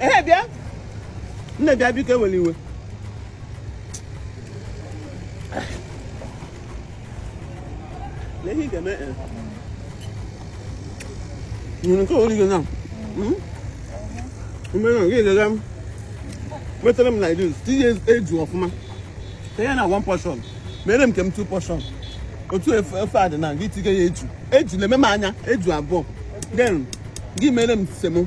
ehe bịa nne bịa biko ewele iwe ihe ị ga-eme eh. nyere nke ori gị na hmm? mgbe na gị ga-aga metara m like this tinye eju ọfụma tinye na one portion mere m nke m two portion otu ofe a dị na gị tinye ya eju eju na-eme m anya eju abụọ then gị mere m semo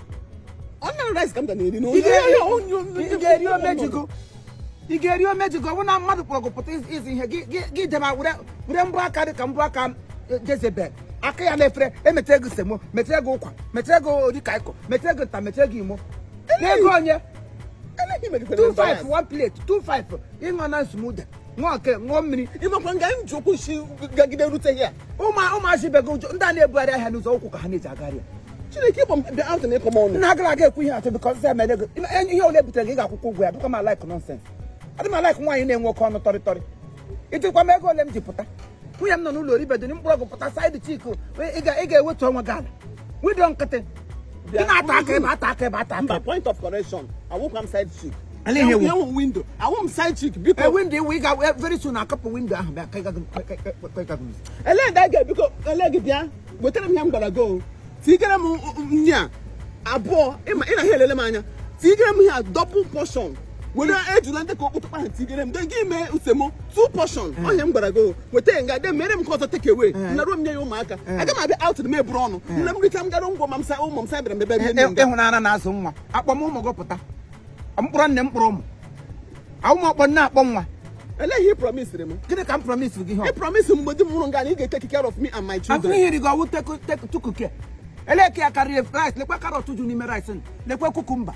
ị ga-eri omejigo ọ bụ na mmadụ kpọrọ gị pụta iri ihe gị dema were mbọ aka dị ka mbọ aka jezebel aka ya n'efere emetere gị semo metere gị ụkwa metere gị edikaikong metere gị nta metere gị imo n'ego onye 25 one plate 25 ịṅụ na smoothie ṅụọ nke ṅụọ mmiri ị makwa nga m ji ụkwụ si gagide rute here ụmụazị ibe gị ndị a na-ebugharị ahịa n'ụzọ ụkwụ ka ha na-eji agharị ya chineke ịbụ mbe ahụ na ịkọm ọnụ na-agara aga ekwu ihe atụ because emere gị ihe ole butere gị ga-akwụkwa ụgwọ ya bụkwa m a-like nonsense adị m a-like nwaanyị na-enwe oke ọnụ tọrịtọrị ị jụkwa m ego ole m ji pụta nwunye m nọ n'ụlọ o ribedo m kpọrọ gị pụta side chick ị ga-ewetu onwe gị ala widow nkịtị Ị na-ata aka ebe ata aka ebe ata aka. Point of correction. Awụkwa m side chick. Ele ihe ị wụ. Ị wụ window. Awụ m side chick biko. E window ị wụ ị ga very soon akapụ window ahụ bịa ka ị gaghị. Ele ndị a ga biko ele gị bịa wetara m ihe m gwara gị o. Tigere m nya abụọ ị na ha elele m anya. Tigere m ihe a double portion. were ejula ndị ka okpotokpo ahụ tigere m then gị mee semo two portion eh. ihe a m gwara gị weta ya nga then mere m nke ọzọ take away eh. naruo m nye ya ụmụaka eh. aga m abịa out na m eburu ọnụ nne m richa m gara ngwa ma m sa ụmụ m sa bịara mbebe bie nne ịhụnanya na-azụ nwa akpọ m ụmụ gị pụta m kpọrọ nne m kpọrọ ụmụ ụmụ ọ kpọ nne akpọ nwa Ele ihe ị promised m. Gịnị ka m promise gị ha? Ị promised m mgbe di m nwụrụ nga na ị ga-eteki care of me and my children. Afọ ihe rigo ọ wụ tukuke. Ele ka ya karịrị rice lekwa carrot ju n'ime rice lekwa cucumber.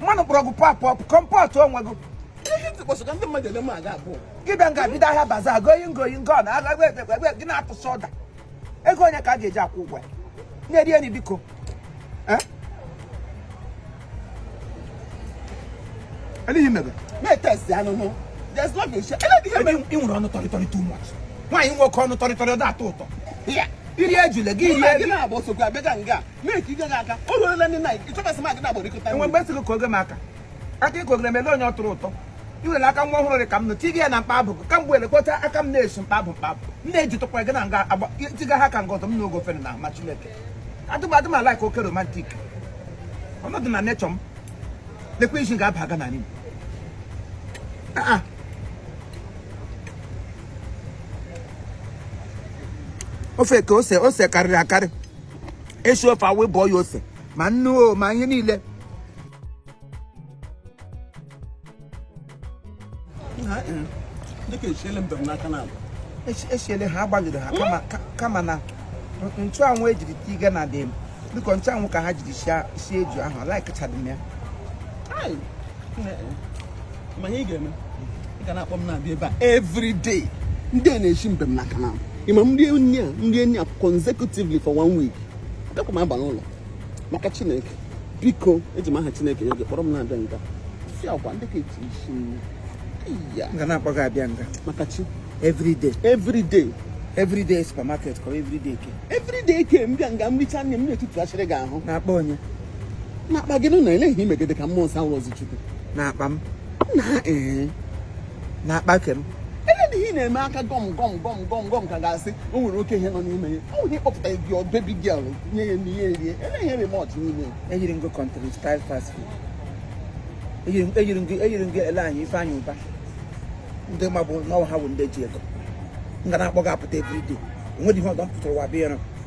mmadụ kpọrọ gị pop up comport onwe gị gị bịa nga bido ahịa bazaar going going gone agha egbe gị na-atụsa order ego onye ka a ga-eji akwụ ụgwọ ya na-eri enyi biko Eh? Anything mega. Me test ya n'ọnụ. There's love in share. Anything mega. I nwere ọnụ tọrị tọrị too much. Nwaanyị nwe oke ọnụ tọrị tọrị ọ da-atọ ụtọ. I ri ejule gị iri eri. Gị na-abụ sokwa abịa ka nga. Make ị gaghị aka. O ruola night. Ịchọbasị m agịda agbara ikọta. Enwe mgbe esi gị koge m aka. Aka i kogere m ele onye ọ tọrọ ụtọ. i were aka nwa ọhụrụ dị ka m nụ tiga ya na mkpa abụ ka mgbe elekọta aka m na-esi mkpa abụ mkpa abụ m na-eji tụkwara gị na nga agba tiga ha ka nga ọzọ m n'ogo ofere na ma chineke adị m a-like oke romantic ọ nọdị na nature m lekwa isi ga-aba aga na n'ime ofe ka ose ose karịrị akarị esi ofe awụ ịbọ ya ose ma nnu o ma ihe niile esiele ha agbalịrị ha kama na nchụanwụ ejiri tiga na dị biko nchụanwụ ka ha jiri sie eju ahụ laikachadị m ya ma ihe ị ga-eme ị ga na-akpọ m na-abịa ebe a every day ndị a na-eshi mbe m n'aka na ịma nri enyi a nri enyi a consecutively for one week abịakwa m aba n'ụlọ maka chineke biko eji m aha chineke nye gị kpọrọ m na-abịa nga si agwa ndị ka eji isi m ya m ga na-akpọ gị abịa nga maka chi every day every day every day supermarket or every day ke every day ke m bịa nga m richa nne m na-etutu achịrị gị ahụ na-akpọ onye n'akpa gịnị na ele ihe i megide ka mmụọ nsọ awụrọzi chukwu n'akpa m na ee eh. n'akpa ke m ele ihe ị na-eme aka gọm gọm gọm gọm gọm ka ga-asị o nwere oke ihe nọ n'ime ya ọ nwere ịkpọpụta your baby girl nye ya nri erie ele ihe remọt n'ime ya eyiri nga country style fast food eyiri nga eyiri nga ele anyị Ifeanyị Ụba ndị ma bụ na ọ wụ ha bụ ndị ji ego m ga na-akpọ gị apụta everyday onwedị ihe ọzọ m pụtara ụwa bịa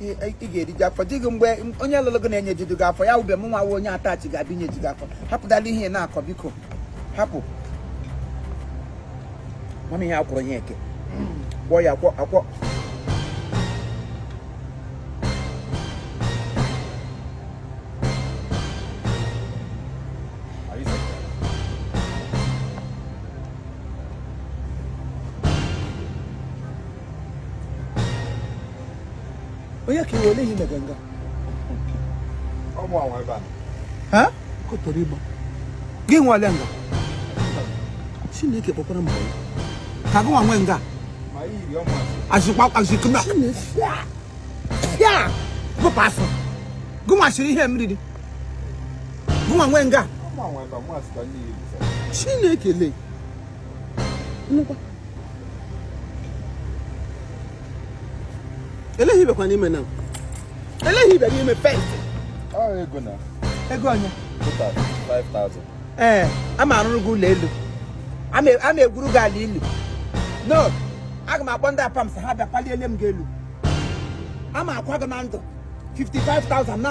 ị ga-eriju afọ di gị mgbe onye lụrụ gị na-enyejudu gị afọ ya awụbe m nwa wụ onye attachee ga-abịa inyeju gị afọ hapụdala ihe ị na-akọ biko hapụ mama ihe akwụrụ ya eke kwọ ya akwọ akwọ onye ka iwe ole ihe mega nga gị nwale nga chineke kpọkwara mba ka gị nwa nwe nga azụkwa azụkwa ya gụpụ afọ gị nwa siri ihe m riri gị nwa nwe nga chineke lee ele ihe ibekwa n'ime na ele ihe ibe n'ime pay ego na ego onye ee ama arụrụ gị ụlọ elu ama egwuru gị ala ilu no aga m akpọ ndị Apams ha bịa paliele m gị elu ama akwa gị na ndụ 55,000 na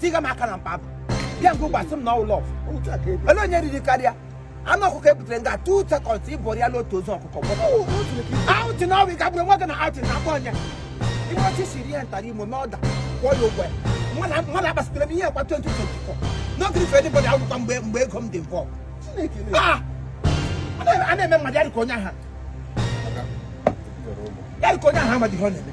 tiga m aka n'akpa bịa nke ụgbasị m na ọ wụ love ele onye riri karịa anụ ọkụkọ ebutere nga two seconds ịbọrọ ya n'otu ozu ọkụkọ outing na ọwụ gagburu nwa gị na outing na-akpa ọnya ihe ọchị siri ya ntara imo mee order kwụọ ya ụgwọ ya mmadụ agbasitere m ihe akwa 2024 n'oge ife dịbọdị akwụkwọ mgbe mgbe ego m dị mbọ a na-eme mmadụ ya dịka onye aha ya dịka onye aha amadịghị ọ na-eme